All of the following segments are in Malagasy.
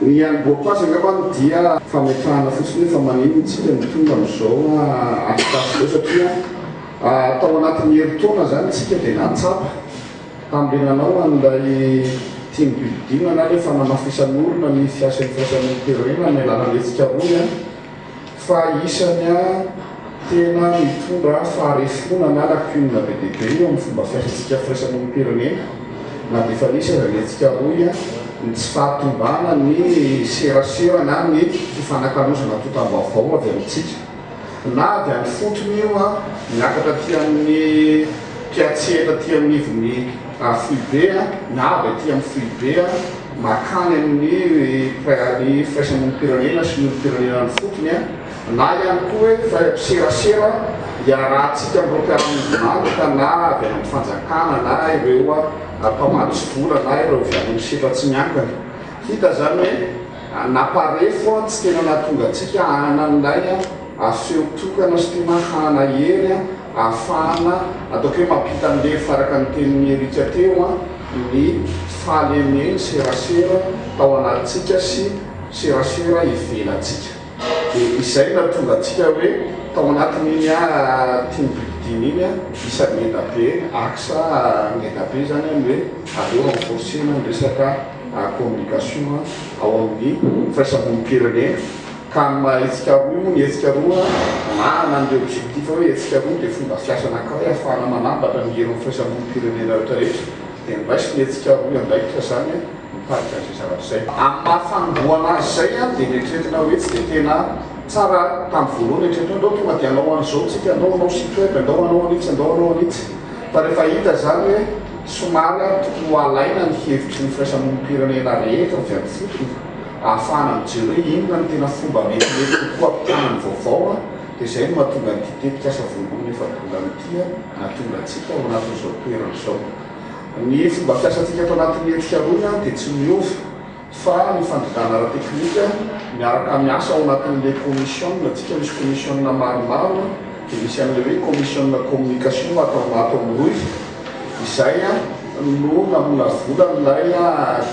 Ny any Boakoasa angamba no dia fametrahana fotsiny hoe fa maninona isika no tonga amin'izao atrikasa izao satria tao anatin'ny herintaona izany isika dia nahatsapa tamin'ilay nanao an'ilay team building na ilay fanamafisan'olona ny fiasan'ny firaisamonim-pirenena amin'ny alalan'ny hetsika rony fa isany tena mitondra faharefoana na lacune be dia be eo amin'ny fomba fiasantsika firaisamonim-pirenena na dia efa nisy aza ny hetsika rohy ny tsy fahatombana ny serasera na ny fifanakalozana antontam-baovao avy amintsika na avy any fotony io a miakatra aty amin'ny mpiatsehatra aty amin'ny ivon'ny foibe a na avy aty amin'ny foibe a mankany amin'ny Prairie firaisamonim-pirenena sy ny olom-pirenena an'ifotony na ihany koa hoe firaisampiserasera iarahantsika amin'ireo mpiara-miombon'antoka na avy any amin'ny fanjakana na ireo mpamatsy vola na ireo avy any amin'ny setra tsy miankina. Hita izany hoe naparefo tsy tena nahatonga antsika hanana an'ilay feo tokana sy tena hanana hery ahafahana ataoko hoe mampita an'ilay efa araka ny tenin'i Eric teo ny fahalemenserasera tao anatintsika sy serasera ivelantsika. Dia izay no nahatonga antsika hoe tao anatin'iny team building iny isa ngeda be, axe ngeda be izany ny hoe aleo renforcer-na ny resaka communication ao amin'ny firaisamonim-pirenena. Ka amin'ny maha hetsika roa io, ny hetsika roa anarana an'ilay objectif hoe hetsika roa dia fomba fiasa anankiray ahafahana manambatra ny heron'ny firaisamonim-pirenena rehetra rehetra dia niraisin'ny hetsika roa andraikitra izany nitarika an'izay zavatra izay. Amin'ny maha fanombohana azy izay dia neritreretina hoe tsy dia tena tsara tamin'ny voalohany ny eritreretina hoe ndao tonga dia hanao an'izao tsika, ndao hanao site web, ndao hanao an'itsy, ndao hanao an'itsy. Fa rehefa hita izany hoe somary tokony ho alaina ny hevitry ny firaisamonim-pirenena rehetra avy amin'ny fotony, ahafahana mijery hoe inona no tena fomba metimety kokoa hampitana ny vaovao dia izay no mahatonga an'ity tetikasa vonimpoana efa-bolana ity nahatonga antsika ao anatin'izao toerana izao. Ny fomba fiasantsika ato anatin'ny hetsika rohy dia tsy miova fa ny fandrindrana ara-teknika miaraka miasa ao anatin'ilay kaomisiona tsika misy kaomisiona maromaro dia misy an'ilay hoe kaomisiona communication ato amin'ny rohy Izay no namolavolan'ilay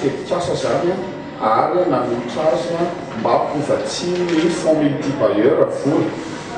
tetikasa izany ary nanolotra azy mba ho vatsian'ny Fonds Multibailleurs vola.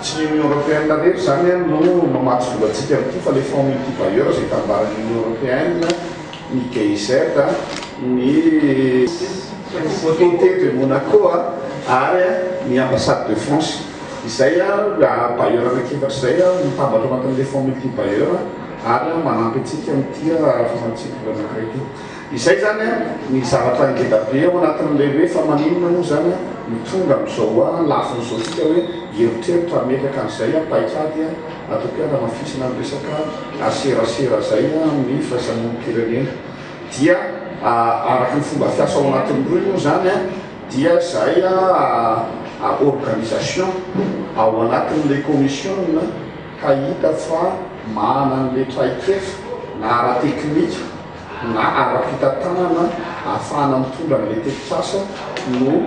Tsy ny Union Européenne rery izany no mamatsy vola antsika amin'ity fa ilay Fonds Multibailleurs izay tambaran'ny Union Européenne, ny GIZ, ny Comité de Monaco ary ny Ambassade de France. Izay bailleur anankiefatra izay no mitambatra ao anatin'ilay Fonds Multibailleurs. Ary manampy antsika ny tia raha efa matsipika anankiray ity. Izay izany ny zavatra ngeda be ao anatin'ilay hoe fa maninona moa izany no tonga amin'izao hoa ny lafiny izao isika hoe hieritreritra hametraka an'izay paikady ataoko hoe hanamafisana ny resaka serasera izay amin'ny firaisamonim-pirenena. Dia araka ny fomba fiasa ao anatin'ny rohy moa izany dia izay organisation ao anatin'ilay commission ka hita fa manana an'ilay traikefa na ara-teknika na ara-pitantanana ahafahana mitondra an'ilay tetikasa no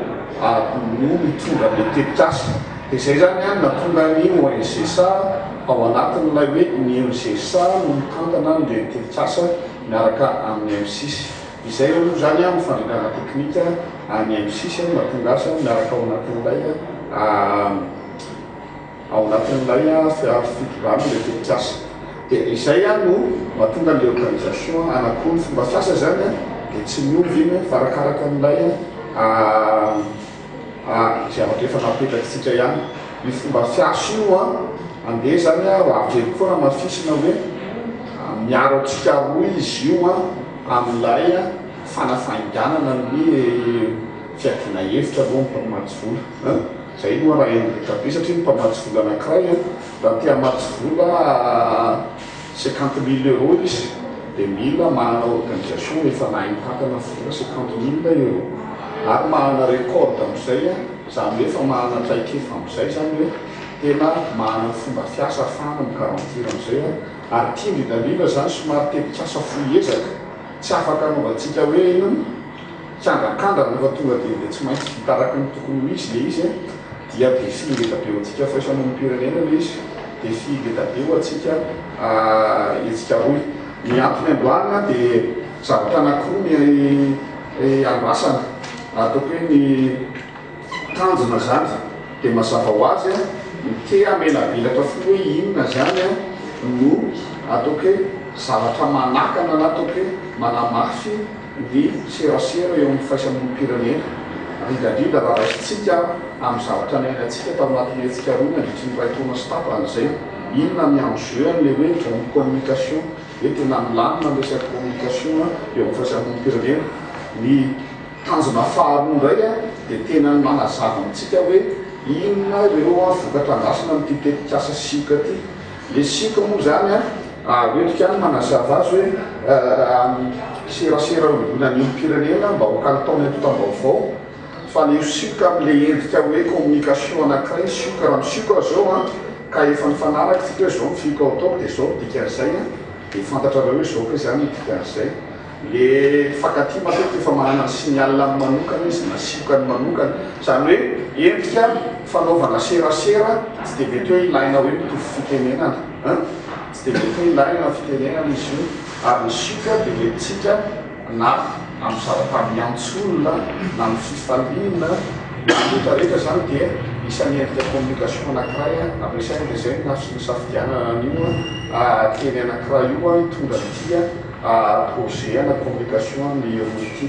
no mitondra an'ilay tetikasa. Dia izay izany an, nahatonga ny ONGSA ao anatin'ilay hoe ny ONGSA no mitantana an'ilay tetikasa miaraka amin'ny M-six. Izay aloha izany an ny fandrindrana ara-teknika an'ny M-six no nahatonga azy miaraka ao anatin'ilay Ao anatin'ilay fiaro fitondrana ilay tetikasa dia izay no mahatonga an'ilay organisation hanakò ny fomba fiasa izany dia tsy miova iny fa arakaraka an'ilay zavatra efa napetrakintsika ihany. Io fomba fiasa io andeha izany ho avy eo koa hamafisina hoe miaro antsika roa izy io amin'ilay fanafainganana ny fiadiana hevitra alohan'ny mpamoaty vola. Zay no ana Hendrika be satria ny mpamatsy vola anakiray an, raha te hamatsy vola cinquante mille euros izy dia mila manana organisation efa nahay mitantana vola cinquante mille euros ary manana record amizay an, zany hoe efa manana traikefa amizay zany hoe tena manana fomba fiasa afahana mi garantir anizay an, ary tian-dry Dalila zany somary tetikasa fohy ezaka tsy afaka anaovantsika hoe inona? Kianjankanja rehefa tonga dia dia tsy maintsy vita araka ny tokony ho izy ilay izy dia défi ngeza be ho antsika firaisamonim-pirenena ilay izy, défi ngeza be ho antsika hetsika rohy. Ny antony androany dia zavatra anankiroa ny andrasana ataoko hoe ny tanjona izany dia mazava ho azy ny te hamelabelatra fo hoe inona izany no ataoko hoe zavatra manakana na ataoko hoe manamafy ny serasera eo amin'ny firaisam-olom-pirenena, indrindra indrindra raha raisintsika amin'ny zavatra niainantsika tao anatin'ny hetsika roa nandritry ny iray taona sy tapany izay. Inona ny enjeu an'ilay hoe bonne communication? Hoe tena milamina ny resaka communication eo amin'ny firaisam-olom-pirenena. Ny tanjona faharoa indray dia tena ny manazava amintsika hoe inona ireo vokatra andrasana amin'ity tetikasa sioka ity. Le sipa moa zany an, ary hoentiko ihany manazava azy hoe amin'ny serasera iombonan'ny olom-pirenena mba ho kalitaon'ny antontam-baovao fa le sioka amin'ilay endrika hoe communication anankiray ny sioka, raha misioka aho zao an ka efa nifanaraka isika hoe zao ny fioka hataoko dia zao ny dikan'izay an, dia fantatrareo hoe zao kay zany ny dikan'izay. Le mpifankatia matetika efa manana ny signal-ny manokana izy na siokany manokana, izany hoe endrika fanaovana serasera tsy dia mety hoe ilaina hoe mitovy fitenenana an! tsy dia mety hoe ilaina ny fitenenana izy io ary ny sioka dia nentintsika na amin'ny zava-taniants'olona na amin'ny fifaliana, Rehetra rehetra izany dia isan'ny endrika communication anankiray ampiasaina dia izay no nafs nisafidianana an'io teny anankiray io hitondra an'ity projet ana communication ny roa ity.